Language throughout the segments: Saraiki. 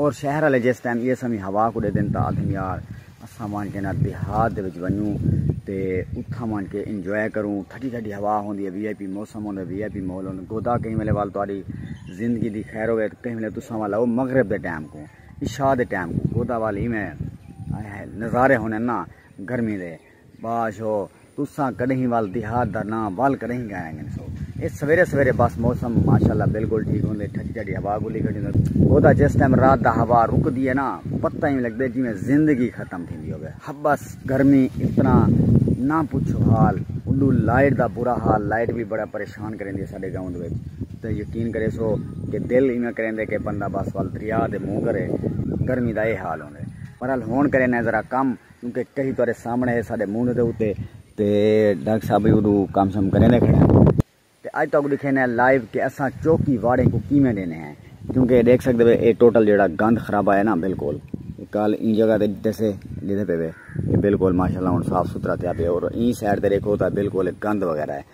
اور شہر آلے جس ٹائم ایہ سویں ہوا کوں ڈیدن تاں آدھن یار اساں وانٹ کے نہ دیہات دے وچ ونجوں تے اتھاں وانٹ کے انجوائے کروں ٹھڈی ٹھڈی ہوا ہوندی ہے وی آئی پی موسم ہوندا ہے وی آئی پی ماحول ہوندا ہے گودا کہیں ویلے وال تہاڈی زندگی دی خیر ہووے کہیں ویلے تساں وال آؤ مغرب دے ٹائم کوں عشاء دے ٹائم کوں گودا وال ایویں ہائے ہائے نظارے ہوندے نا گرمی دے۔ باش ہو تساں کڈہیں ول دیہات دا ناں ول کڈہیں گایا گن سو اے سویرے سویرے بس موسم ماشاءاللہ بالکل ٹھیک ہوندے ٹھڈی ٹھڈی ہوا گلی گڈی ہوندے او دا جس ٹائم رات دا ہوا رکدی ہے نا پتہ ہی لگدے جویں زندگی ختم تھیندی ہوے ہبس گرمی اتنا نہ پچھو حال الو لائٹ دا برا حال لائٹ بھی بڑا پریشان کریندی ہے ساڈے گاؤں دے وچ تے یقین کرے سو کہ دل ایویں کریندے کہ بندہ بس ول دریا دے منہ کرے گرمی دا اے حال ہوندے پر ہن کرے نے ذرا کم کیونکہ کہیں تہاڈے سامنے ہے ساڈے منہ دے اتے تے ڈاکٹر صاحب بھی اڈو کم سم کریندے کھڑے ہیں تے اج تاکو دکھینے ہیں لائیو کہ اساں چوکی واڑیں کو کیویں ڈینے ہیں کیونکہ اے دیکھ سکدے وے اے ٹوٹل جیڑا گند خرابہ ہے نا بالکل کل این جگہ تے دسے جدے پہ وے اے بالکل ماشاءاللہ ہن صاف ستھرا تھیا پیا اور این سائیڈ تے دیکھو تا بالکل گند وغیرہ ہے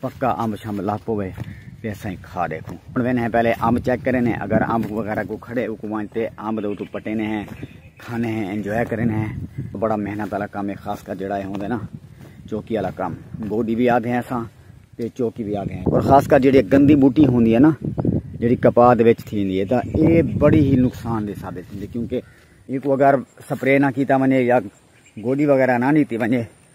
پکا امب شمب لگ پوے تے اساں کھا ڈیکھوں ہن وینے ہیں پہلے امب چیک کرے نے اگر امب وغیرہ کو کھڑے او کو وانج تے امب دے اتو پٹے نے ہیں کھانے ہیں انجوائے کرے نے ہیں بڑا محنت والا کام ہے خاص کر جڑا ہے ہوندے نا چوکی والا کام گوڈی بھی آدھے ہیں اساں تے چوکی بھی آدھے ہیں اور خاص کر جڑی گندی بوٹی ہوندی ہے نا جڑی کپا دے وچ تھیندی ہے تا اے بڑی ہی نقصان دے ثابت ہوندی کیونکہ اے کو اگر سپرے نہ کیتا ونے یا گوڈی وغیرہ نہ نیتی ونے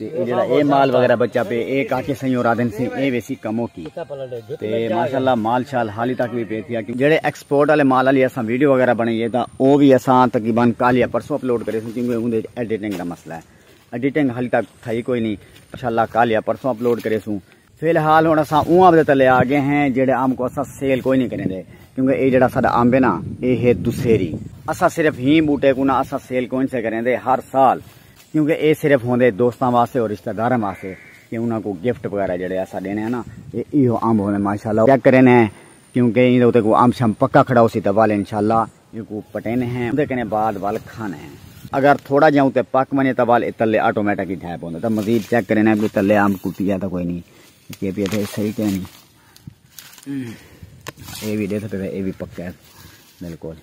تے جڑا اے مال وغیرہ بچا پے اے کاکے سائیں اور آدن سی اے ویسی کمو کی تے ماشاءاللہ مال شال حالی تک بھی پے تھیا کہ جڑے ایکسپورٹ والے مال علی اساں ویڈیو وغیرہ بنائیے تا او بھی اساں تقریبا کل یا پرسوں اپلوڈ کرے سن کیونکہ اوندے ایڈیٹنگ دا مسئلہ ہے ایڈیٹنگ حالی تک تھئی کوئی نہیں انشاءاللہ کل یا پرسوں اپلوڈ کرے سوں فی الحال ہن اساں اوں اب دے تلے آ گئے ہیں جیڑے ام کو اساں سیل کوئی نہیں کریندے کیونکہ اے جیڑا ساڈا امب ہے نا اے ہے دسہری اساں صرف ہی بوٹے کو نہ اساں سیل کوئی نہیں کریندے ہر سال کیونکہ اے صرف ہوندے دوستاں واسطے اور رشتہ داراں واسطے کہ انہاں کو گفٹ وغیرہ جیڑے اساں دینے ہیں نا اے ایو امب ہوندے ماشاءاللہ چیک کرینے کیونکہ ایں دے کو امب شم پکا کھڑا ہوسی تے والے انشاءاللہ اینکوں پٹیندے ہیں اوندے کنے بعد ول کھاندے ہیں اگر تھوڑا جیاں اتے پک ونجے تاں ول اتلے آٹومیٹک ہی ڈھے پوندے تاں مزید چیک کریں ہیں کہ تلے آم کو پیا تاں کوئی نہیں کہ پیا تھے صحیح کہ نہیں اے بھی دیکھتے ہیں اے بھی پکے ہیں بالکل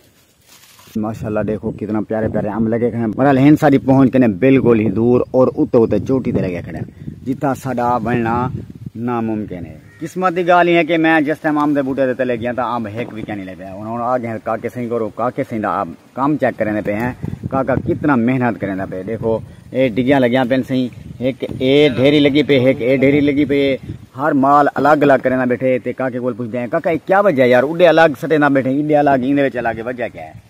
ماشاءاللہ دیکھو کتنا پیارے پیارے آم لگے کھڑے ہیں مرحل ہین ساری پہنچ کنے بالکل ہی دور اور اتے اتے چوٹی دے لگے کھڑے ہیں جتا ساڑا بننا ناممکن ہے قسمت دی گالھ ہے کہ میں جس ٹائم امب دے بوٹے دے تلے گیاں تاں امب ہک وی کینی لبھیا۔ ہن ہن آ گئے کاکے سئیں کولوں۔ کاکے سئیں دا آپ کم چیک کریندے پئے ہیں۔ کاکا کتنا محنت کریندا پئے۔ ڈیکھو اے ڈگیاں لگیاں پئن سئیں۔ ہک اے ڈھیری لگی پئے ہک اے ڈھیری لگی پئے ہے۔ ہر مال الگ الگ کریندا بیٹھے تے کاکے کول پچھدے ہیں کاکا اے کیا وجہ ہے یار اڈے الگ سٹیندا بیٹھے اڈے الگ ایندے وچ الگ اے وجہ کیا ہے۔